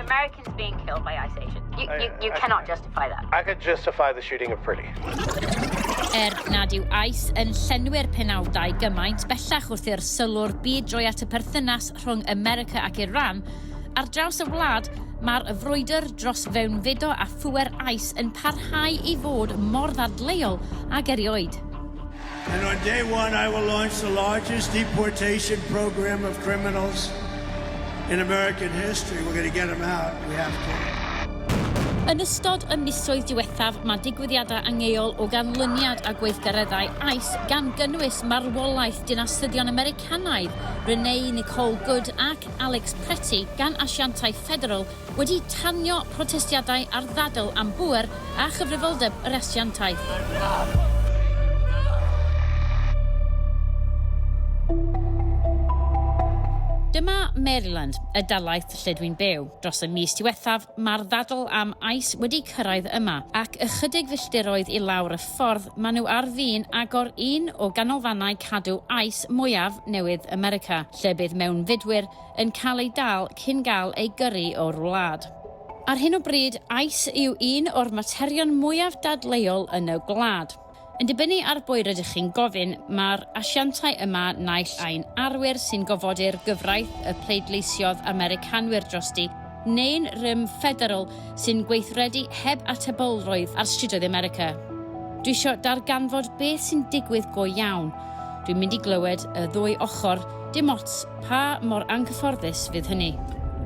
Americans being killed by ice Asian. You, you, you I, cannot justify that. I could justify the shooting of Pretty. Er nad yw ice yn llenwi'r penawdau gymaint bellach wrth i'r sylw'r byd droi at y perthynas rhwng America ac Iran, ar draws y wlad, mae'r frwydr dros fewnfudo a phŵer ice yn parhau i fod mor ddadleuol ag erioed. And on day one I will launch the largest deportation program of criminals in American history. We're going to get them out. We have to. Yn ystod y misoedd diwethaf, mae digwyddiadau angeol o ganlyniad a gweithgareddau AIS gan gynnwys marwolaeth dinasyddion Americanaidd Renee Nicole Good ac Alex Pretti gan asiantau ffederal wedi tanio protestiadau ar ddadl am bŵer a chyfrifoldeb yr asiantaeth. Dyma Maryland, y dalaith lle dwi'n byw. Dros y mis diwethaf, mae'r ddadl am ice wedi cyrraedd yma, ac ychydig filltiroedd i lawr y ffordd maen nhw ar fin agor un o ganolfannau cadw ice mwyaf newydd America, lle bydd mewnfudwyr yn cael ei dal cyn gael ei gyrru o'r wlad. Ar hyn o bryd, aeth yw un o'r materion mwyaf dadleuol yn y gwlad. Yn dibynnu ar bwy rydych chi'n gofyn, mae'r asiantau yma naill ai'n arwyr sy'n gofodu'r gyfraith y pleidleisiodd Americanwyr drosti, neu'n rym ffederal sy'n gweithredu heb atebolrwydd ar strydoedd America. Dwi isio darganfod beth sy'n digwydd go iawn. Dwi'n mynd i glywed y ddwy ochr, dim ots pa mor anghyfforddus fydd hynny.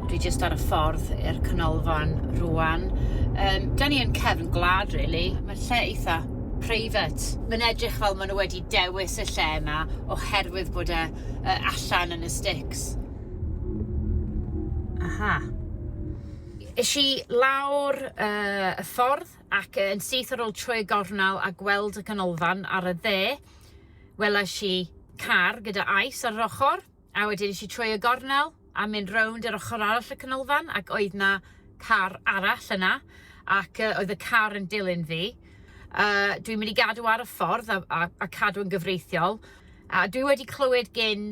Dwi jyst ar y ffordd i'r canolfan rwan. Um, da ni yn cefn gwlad, really. Mae'r lle eitha private. Mae'n edrych fel maen nhw wedi dewis y lle yma oherwydd bod e uh, allan yn y sticks. Aha. Is i lawr uh, y ffordd ac yn syth ar ôl trwy y gornel a gweld y canolfan ar y dde, welais i car gyda ais ar yr ochr, a wedyn eisiau trwy y gornel a mynd rownd yr ochr arall y canolfan ac oedd na car arall yna ac uh, oedd y car yn dilyn fi. Uh, dwi'n mynd i gadw ar y ffordd a, a, a cadw yn gyfreithiol a dwi wedi clywed gen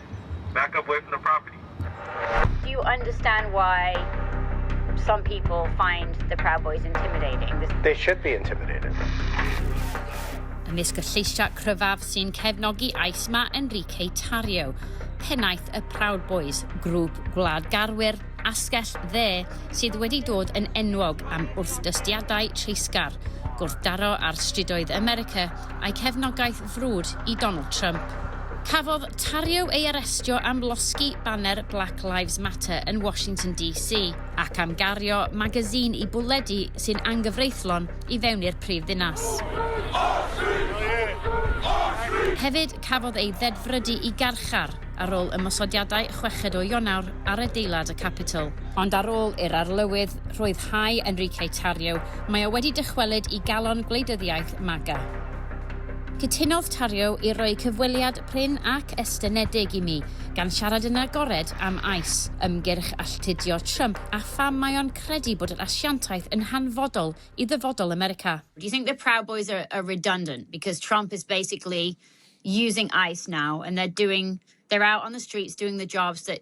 Back up away from the property. Do you understand why some people find the Proud Boys intimidating? This... They should be intimidated. Ymysg y lleisiau cryfaf sy'n cefnogi ais mae Enrique Tarrio, pennaeth y Proud Boys, grŵp gwlad garwyr asgell dde sydd wedi dod yn enwog am wrthdystiadau treisgar, gwrthdaro ar stridoedd America a'i cefnogaeth frwd i Donald Trump. Cafodd Tarrio ei arestio am losgi baner Black Lives Matter yn Washington DC ac am gario magazine i bwlledi sy'n anghyfreithlon i fewn i'r prif ddinas. Hefyd, cafodd ei ddedfrydu i garchar ar ôl ymosodiadau chweched o Ionawr ar adeilad y Capitol. Ond ar ôl i'r Arlywydd rhyddhau Enrique Tarrio, mae o wedi dychwelyd i galon gwleidyddiaeth MAGA. Cytunodd Tarrio i roi cyfweliad prin ac estynedig i mi, gan siarad yn agored am ICE, ymgyrch alltudio Trump a pham mae o'n credu bod yr asiantaeth yn hanfodol i ddyfodol America. Do you think the Proud Boys are, are redundant because Trump is basically using ICE now and they're doing, they're out on the streets doing the jobs that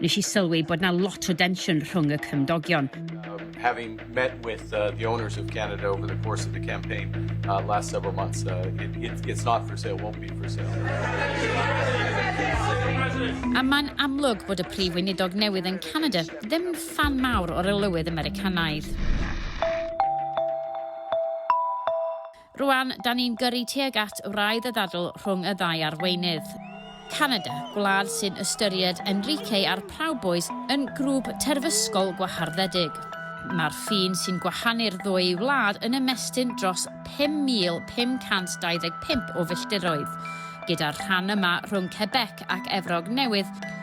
Nes i sylwi bod 'na lot o densiwn rhwng y cymdogion. Having met with uh, the owners of Canada over the course of the campaign uh, last several months, uh, it, it, it's not for sale, won't be for sale. A mae'n amlwg bod y prif weinidog newydd yn Canada ddim fan mawr o'r lywydd Americanaidd. Rwan, da ni'n gyrru tuag at wraidd y ddadl rhwng y ddau arweinydd. Canada, gwlad sy'n ystyried Enrique a'r Proud Boys yn grŵp terfysgol gwaharddedig. Mae'r ffin sy'n gwahanu'r ddwy wlad yn ymestyn dros 5,525 o filltiroedd, gyda'r rhan yma rhwng Quebec ac Efrog Newydd,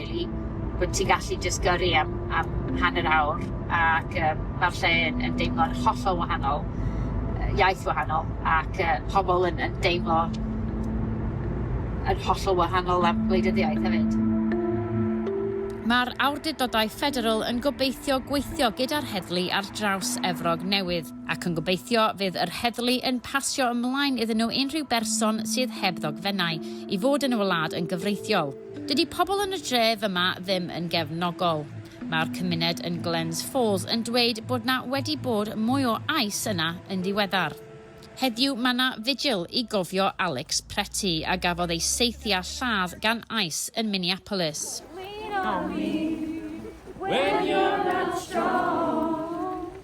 rili, bod ti'n gallu jyst gyrru am am hanner awr ac yym ma'r lle yn yn deimlo'n hollol wahanol, yy iaith wahanol ac yy pobol yn yn deimlo yn hollol wahanol am gwleidyddiaeth hefyd. Mae'r awdurdodau ffederal yn gobeithio gweithio gyda'r heddlu ar draws Efrog Newydd, ac yn gobeithio fydd yr heddlu yn pasio ymlaen iddyn nhw unrhyw berson sydd heb ddogfennau i fod yn y wlad yn gyfreithiol. Dydy pobl yn y dref yma ddim yn gefnogol. Mae'r cymuned yn Glens Falls yn dweud bod 'na wedi bod mwy o ais yna yn ddiweddar. Heddiw mae 'na vigil i gofio Alex Pretty a gafodd ei saethu â lladd gan ais yn Minneapolis. Lean on me when you're not strong.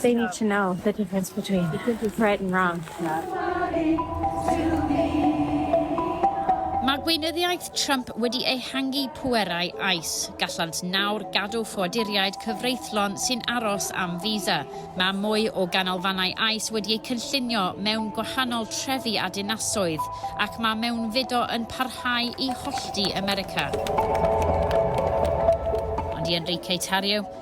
They need to know the difference between right and wrong. Mae gweinyddiaeth Trump wedi ehangu pwerau ICE. Gallant nawr gadw ffoaduriaid cyfreithlon sy'n aros am visa. Mae mwy o ganolfannau ICE wedi eu cynllunio mewn gwahanol trefi a dinasoedd, ac mae mewnfudo yn parhau i hollti America. Ond i Enrique Tarrio,